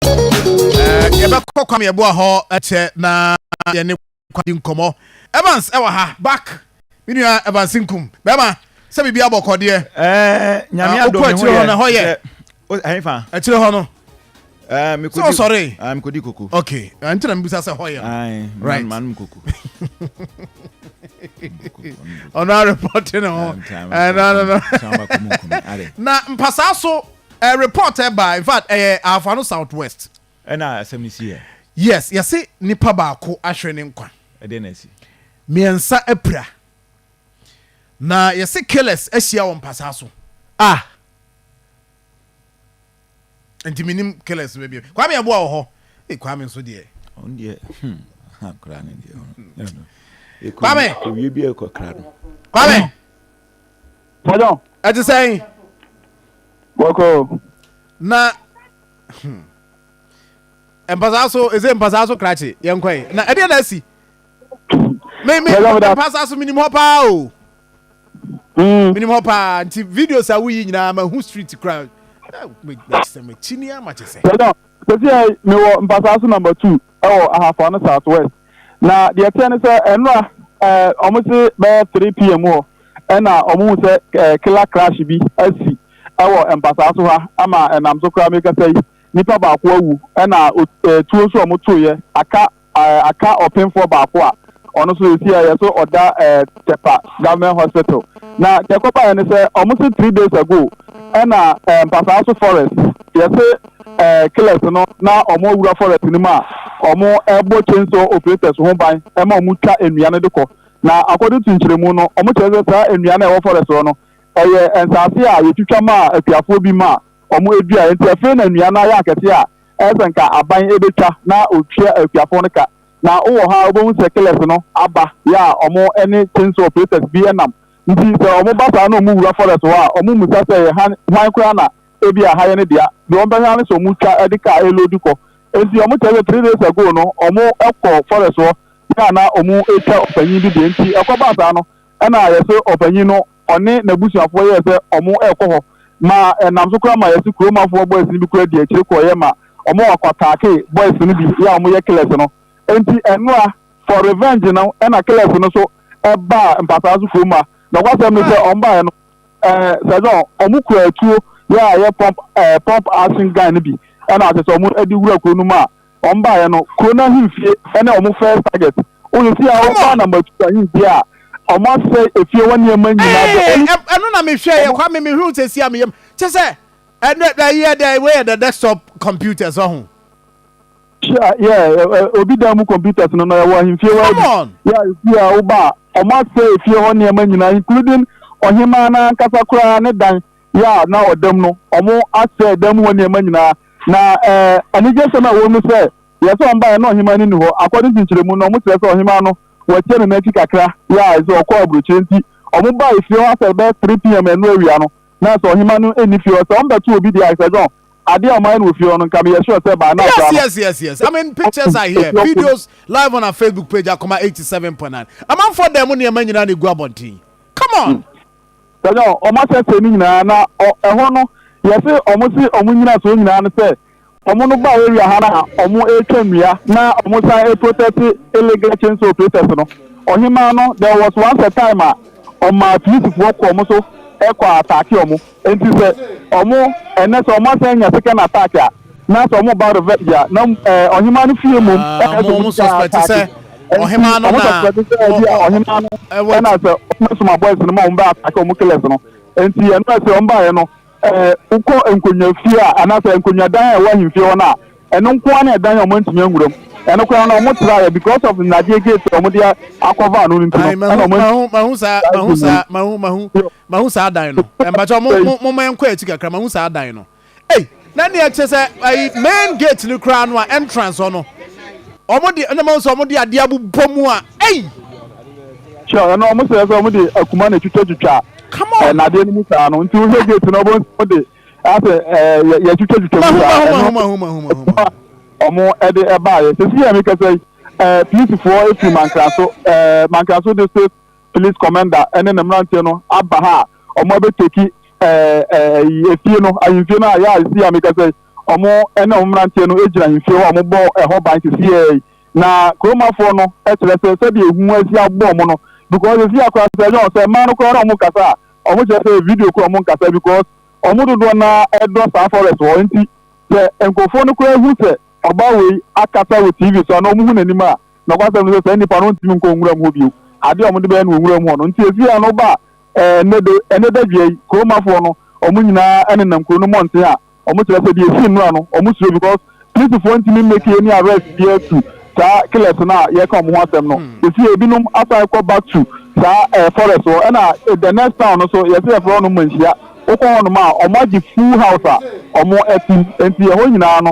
Eh, yɛbɛkɔ kwam yɛboa hɔ kyɛ na yɛne kwadi nkɔmmɔ evans ɛwɔ ha back me nua evans nkum bɛrima sɛ biribi abɔ kɔdeɛ eh, nyame ah, adɔ me ho yɛ na hɔ yɛ ɛhefa akyire hɔ no eh, sɛ ɔsɔre ah, mekɔdi koko ok ah, nti na mebisa sɛ hɔ yɛ right manom koko ɔno arepɔte ne ho na mpasaa so Eh report eh ba infact ɛyɛ ahafa no south west. Ɛna asɛm no si eh. Yes yɛse nipa baako ahwere ne nkwa. Ɛdeɛ na asi. Miɛnsa apira. Na yɛse killers ahyia wɔ mpasaa so. Ah. Nti menim killers no baabi. Kwame aboa wɔ hɔ. Ei kwame nso deɛ. Ɔno deɛ hmm aha koraa ne deɛ. Kwame. Owie bi ɛkɔ kra no. Kwame. Pardon. Ɛte sɛn? Bɔkɔ. Na hmm. mpasaa so ɛsɛ mpasaa so krakye yɛn kɔɛ na ɛdeɛ na asi me me mpasaa so menim hɔ paa o hmm. menim hɔ paa nti videos a woyi nyinaa ma hu street kura eh, makyisɛ makyini a makyisɛ. pardon sɛsi ɛ mewɔ mpasaa so number two. wɔ Ahafo Ano South West. Na deɛ ɛteɛ ne sɛ ɛnora eh, wɔn se bɛyɛ 3 pm hɔ ɛna wɔn hu sɛ eh, killer crash bi asi ɛwɔ mpasaa so ha ama ɛnam so koraa mekasa yi nipa baako awu ɛna eh, tuo nso a wɔn toeɛ aka eh, aka ɔpemfoɔ baako a Ɔno nso esi a yɛ so ɔda ɛɛ Tepa government hospital. Na deɛ ɛkɔba yɛ ne sɛ ɔmo se three days ago ɛna ɛɛ mpasaa so forest yɛ se ɛɛ killers no na ɔmo awura forest no mu a ɔmo ɛbɔ chainsaw operators ho ban ɛma ɔmo twa nnua no de kɔ. Na according to nkyerɛmu no ɔmo kyerɛ sɛ saa nnua no a ɛwɔ forest hɔ no ɛyɛ nsaase a yɛtwitwa maa akuafoɔ bi ma ɔmo ɛduaɛ nti afei na nnua no ayɛ akɛseɛ a ɛyɛ sɛ nka aban ɛbɛtwa na ɔtua akuafoɔ no ka. Na wowɔ ha a wobɛhu sɛ killers no aba yɛ a ɔmo ɛne chainsaw operators bi ɛnam. Nti sɛ ɔmo ba saa na ɔmo wura forest hɔ a ɔmo mmusa sɛ ɛyɛ han hwan koraa na ebia ha yɛ ne dea. Deɛ ɔmo bɛhwɛ ara ne sɛ ɔmo twa ɛde car ɛloadu kɔ. Nti ɔmo kyerɛ sɛ three days ago no ɔmo ɛkɔ forest hɔ yɛ a na ɔmo ɛtwa ɔpanyin bi deɛ nti ɛkɔbaa saa no ɛna yɛse ɔpanyin no ɔne n'abusuafoɔ yɛɛ sɛ wɔrekɔ hɔ ma ɛnam so koraa ma yɛse kurom afoɔ boys no bi koraa dii akyire kɔeɛ ma wɔn akɔ ataake boys no bi yɛ a wɔyɛ killers no enti ɛnoa for revenge no ɛna killers no so ɛbaa mpataa so kurom a nɔkwasɛm ne sɛ wɔn baeɛ no ɛɛ sɛ dɔn wɔn kura atuo yɛ a yɛ pump ɛɛ pump action gun no bi ɛna asɛ sɛ wɔn de wura kuro no mu a wɔn baeɛ no, kuro no ahemfie ne wɔn first target. Wọ́n si a wɔn ba na Machu ahemfie a wɔn asɛ efie wɔn nneɛma nyinaa. The only. Ɛno na mi hwɛ yɛ kwa mi mi hu sɛ si a mi yam kyɛ sɛ ɛnɛ ɛyi yɛ dɛ wei yɛ dɛ desktop computers ɔho. Sure, yeah, obi dan mu computers no na yɛ wɔ ahemfie wɔ ɛbi. Yɛ efie a wɔn ba a wɔn asɛ efie hɔ nneɛma nyinaa including ɔhemaa n'ankasa koraa ne dan. yɛ a na ɔda mu no, wɔasɛe dan mu hɔ nneɛma nyinaa. Na anigyesɛm a ɛwom ne sɛ, yɛ sɛ wɔbaeɛ no na ɔhemaa no nni hɔ. According to nkyerɛmu no, wɔkyerɛ sɛ ɔhemaa no, wɔakyia no n'akyi kakra, yɛ a sɛ ɔkɔɔ aburokyire nti, wɔbae fie hɔ a sɛ bɛyɛ 3 PM ɛno awia no, na sɛ ɔhemaa no nni fie hɔ. Sɛ wɔbɛto obi deɛ a, Sir John, adeɛ a wɔayɛ no wɔ fie hɔ no, nka meyɛ sure sɛ by now koraa no. Yes, yes, yes, yes. I mean, pictures are here. Videos live on our Facebook page, Akoma 87.9. Amanfoɔ dan mu nneɛma nyinaa na ɛgu abɔnten. Come on! Wɔn a wɔn ahyɛseɛ no nyinaa na ɛhɔ no yɛse wɔn se wɔn nyinasoɔ nyinaa ne sɛ wɔn no ba area ha no a wɔn retwa nnua na wɔn san reprotɛte illegal chainsaw operators no. Ɔhemaa no there was once a time a ɔmaa polisifoɔ kɔ wɔn so kɔ ataake wɔn. Enti sɛ wɔn ɛnɛ sɛ wɔn asan anya second attack a, Na sɛ ɔmo ba revenge a, na ɛɛ ɔhemaa no fie mmom ɛna ɛsɛ ɔmo twa ataake. Ɛnti ɔmo suspɛte sɛ ɛbia ɔhemaa no ɛna sɛ ɔmo soma boys no ma ɔmo bɛ ataake ɔmo killers no. Ɛnti ɛno ɛsɛ ɔmo baeɛ no ɛɛ wokɔ nkonwa fie a anaa sɛ nkonwa dan a ɛwɔ ahemfie hɔ no a, ɛno nko ara na ɛdan a ɔmo antumi anwura mu. Ɛno koraa no ɔmo traeɛ because of nnadeɛ gate a ɔmo de a cover ano no nti no ɛna ɔmo antumi. Mahu mahu saa mahu saa mahu mahu mahu saa dan no. Ɛmpakyɛ ɔmo mo mo mɛnkɔ akyi kakra mahu saa dan no. Ei na neɛ kyɛ sɛ ayi main gate no koraa no a entrance hɔ no ɔmo de ɛna mo sɛ ɔmo de adeɛ abobɔ mu a ei. Sure ɛna ɔmo sɛ sɛ ɔmo de akuma na etwitwa twitwa ɛ nadeɛ no mu saa no nti wohwɛ gate no ɔmo ɔmo de asɛ ɛ yɛ yɛ twitwa twitwa mu saa ɛno mahu mahu mahu mahu mahu mahu. ɔmo ɛde ɛbaayɛ sisi yɛ mi kɛsɛ ɛ polisifoɔ efiri mankraso ɛ mankraso district police commander ɛne ne mmeranteɛ no aba ha a ɔmo abɛteki ɛyi efie no ahemfie no a yɛ a esi a meka sɛ ɔmo ɛne ɔmo mmeranteɛ no egyina ahemfie hɔ a ɔmo bɔ ɛhɔ ban sisi yɛ yi na kuromafoɔ no ɛkyerɛ sɛ sɛdeɛ ehu asi abɔ ɔmo no because esi akora sɛ ɛnyɛ ɔsɛ mmaa no koraa na ɔmo kasa a ɔmo kyerɛ sɛ video koraa ɔmo nkasa because ɔmo dodoɔ na ɛdɔ saa forest hɔ nti sɛ nkurɔfoɔ no koraa ehu sɛ ɔbaa wei akasa wɔ tv so a na ɔmo hu n'anim a Nokwasɛm ne sɛ, saa nnipa no ntumi nkɔ nwuram hɔ bio. Ade a wɔde bɛyɛ no wɔ nwuram hɔ no nti, efi ano ba a, ɛnnɛ de, ɛnnɛ dadwia yi, kuromafoɔ no, wɔn nyinaa nenam kuro no mmɔnten a wɔkyerɛ sɛ deɛ ɛsi nnora no, wɔsuro because polisifoɔ ntumi mmake any arrest biara to saa killers no a yɛreka wɔn ho asɛm no. Seesei ebinom asan kɔ back to saa ɛɛ forest hɔ, ɛna the next town no so yɛsɛ yɛfrɛ hɔnom manhyia. Wokɔ hɔnom a, wɔagye full house a wɔte mu. Enti ɛhɔ nyinaa no,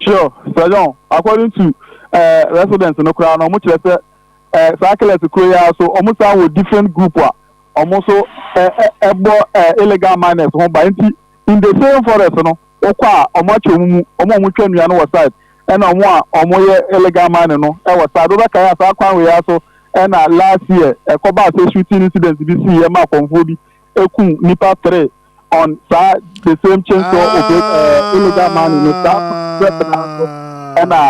Sure sir John, according to eh, residents no koraa no ɔmo kyerɛ sɛ eh, saa killers kuro yi ara so ɔmo san wɔ different group a ɔmo so eh, eh, ɛbɔ eh, illegal miners ho ba nti in the same forest no wokɔ a ɔmo akyɛ ɔmo mu ɔmo a ɔmo twa nnua no wɔ side ɛna ɔmo a ɔmo yɛ illegal mining no ɛwɔ side wobɛkae a saa kwan wei ara so ɛna last year ɛkɔbaa sɛ shooting incident bi sii ɛma akɔmfoɔ bi ekum nipa three on saa the same chain so ah, obe uh, illegal money no saa prep na so ɛna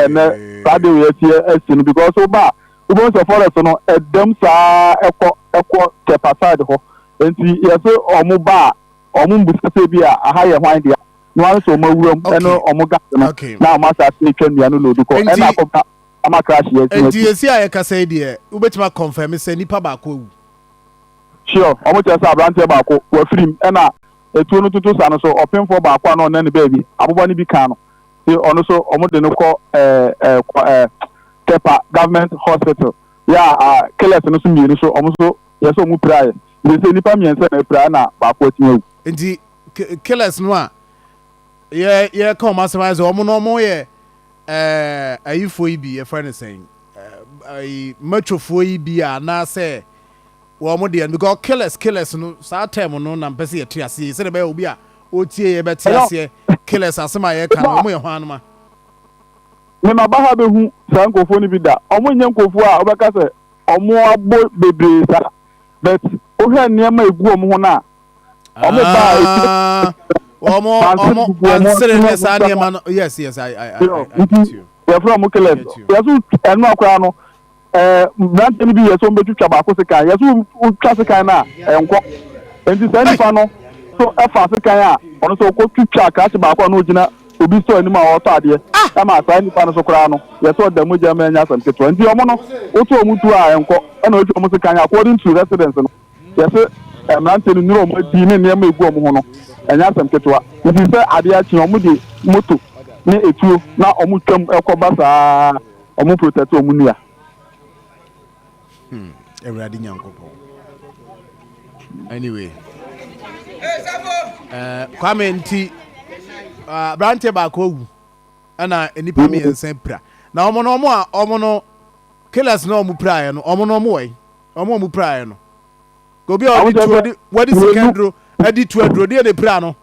ɛnɛ saa de yɛ si ɛsi no because wo ba wobɛhu sɛ forest no ɛdɛm saa ɛkɔ ɛkɔ kɛpa side hɔ nti yɛsɛ ɔmo ba a ɔmo mbusa sɛ bi a aha yɛ hwan deɛ na wɔn nso ɔmo awuram ɛne ɔmo gas no na ɔmo asase atwa nnua no lodi kɔ ɛna akɔba ama crash yɛ si ɛsi. nti yɛsi a yɛkasa yi deɛ wobɛtumi akɔnfɛmi sɛ nipa baako awu. Sure, wɔkyerɛ sɛ aberanteɛ baako, wafirim, ɛna atuo no toto sa no so, ɔpemfoɔ baako a na ɔnna ne baabi, aboba no bi kaa no, nti ɔno nso wɔde no kɔ Tepa Government Hospital, yeah, killers no nso mmienu nso wɔn nso yɛ sɛ wɔn piraeɛ, nti seesei nnipa mmiɛnsa na apira ɛna baako atumi awu. Nti killers no a yɛ yɛka wɔn asɛm ayɛ sɛ wɔn no wɔn yɛ ɛɛ ayifoɔ yi bi yɛfrɛ no sɛn ɛɛ matwofoɔ yi bi a anaasɛ. wɔn deɛ no because killers killers no saa term no na mpɛ sɛ yɛte aseɛ sɛdeɛ ɛbɛyɛ obi a ɔtie yɛ bɛte aseɛ killers asɛm a yɛka no wɔn yɛ hwan anoma mema ba ha bɛhu saa nkurɔfoɔ no bi da wɔn nyɛ nkurɔfoɔ a wɔbɛka sɛ wɔn abɔ bebree saa but wohwɛ nneɛma a ɛgu wɔn ho no a wɔn ba a ɛti ah, wɔn wɔn nsere ne saa nneɛma no yes yes i i i get you yɛfrɛ wɔn killers yɛso ɛno akora no ɛɛ mmeranteɛ no bi yɛ sɛ wɔbɛtwitwa baako sekan yɛ so wotwa sekan no a ɛnkɔ nti saa nipa no so ɛfa sekan a ɔno sɛ ɔkɔ twitwa akrakye baako a na ɔgyina obi sɔ anim a ɔretɔ adeɛ ɛma saa nipa no so koraa no yɛ sɛ ɔda mogya ma ɛnyɛ asɛm ketewa nti ɔmo no woto ɔmo tu a ɛnkɔ ɛna ɔtwa ɔmo sekan according to residence no yɛ sɛ mmeranteɛ no nnuro ɔmo adi ne nneɛma egu ɔmo ho no ɛnyɛ asɛm ketewa nti sɛ adeɛ akye ɔmo de moto ne etuo na ɔmo twam ɛkɔ ba saa Ɔmo protect ɔmo nua. Hmm, Awurade Nyankopɔn. Anyway. Uh, Kwame nti uh, ah, aberanteɛ baako awu ɛna nnipa mm. mmiɛnsa pira na wɔn no wɔn a wɔn no killers na wɔn piraeɛ no wɔn no wɔn wɔ yi wɔn a wɔn piraeɛ no obi a wɔde tuo wɔde sika aduro ɛde tuo aduro deɛ na pira no.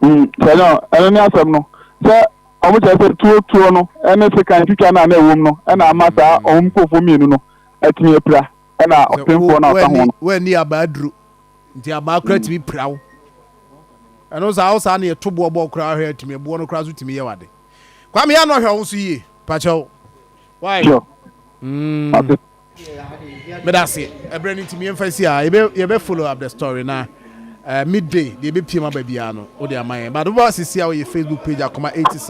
Mm, sɛ no, ɛno ne asɛm no. Sɛ wɔn kyerɛ sɛ tuo tuo no ne sekan twitwa no a na ɛwom no na ama saa mm. wɔn nkurɔfoɔ mmienu no atumi apira ɛna ɔpemfoɔ no ɔka ho no. Wɔani abaa aduru nti abaa kora mm. tumi pira wo. Ɛno saa wo saa ne ɛto boɔ bɔɔ koraa hwɛ atumi ɛboɔ no koraa so tumi yɛ wade. Kwame yɛ anɔhwɛ wo so yie pakyɛw. Why? Sure. Mm. Medase. Ɛberɛ no nti me yɛmfa si ha. Yɛbɛ yɛbɛ follow up the story na uh, midday deɛ ɛbɛpiem aba biara no wode ama yɛn. But wobɔ sisi a woyɛ Facebook page akoma 87.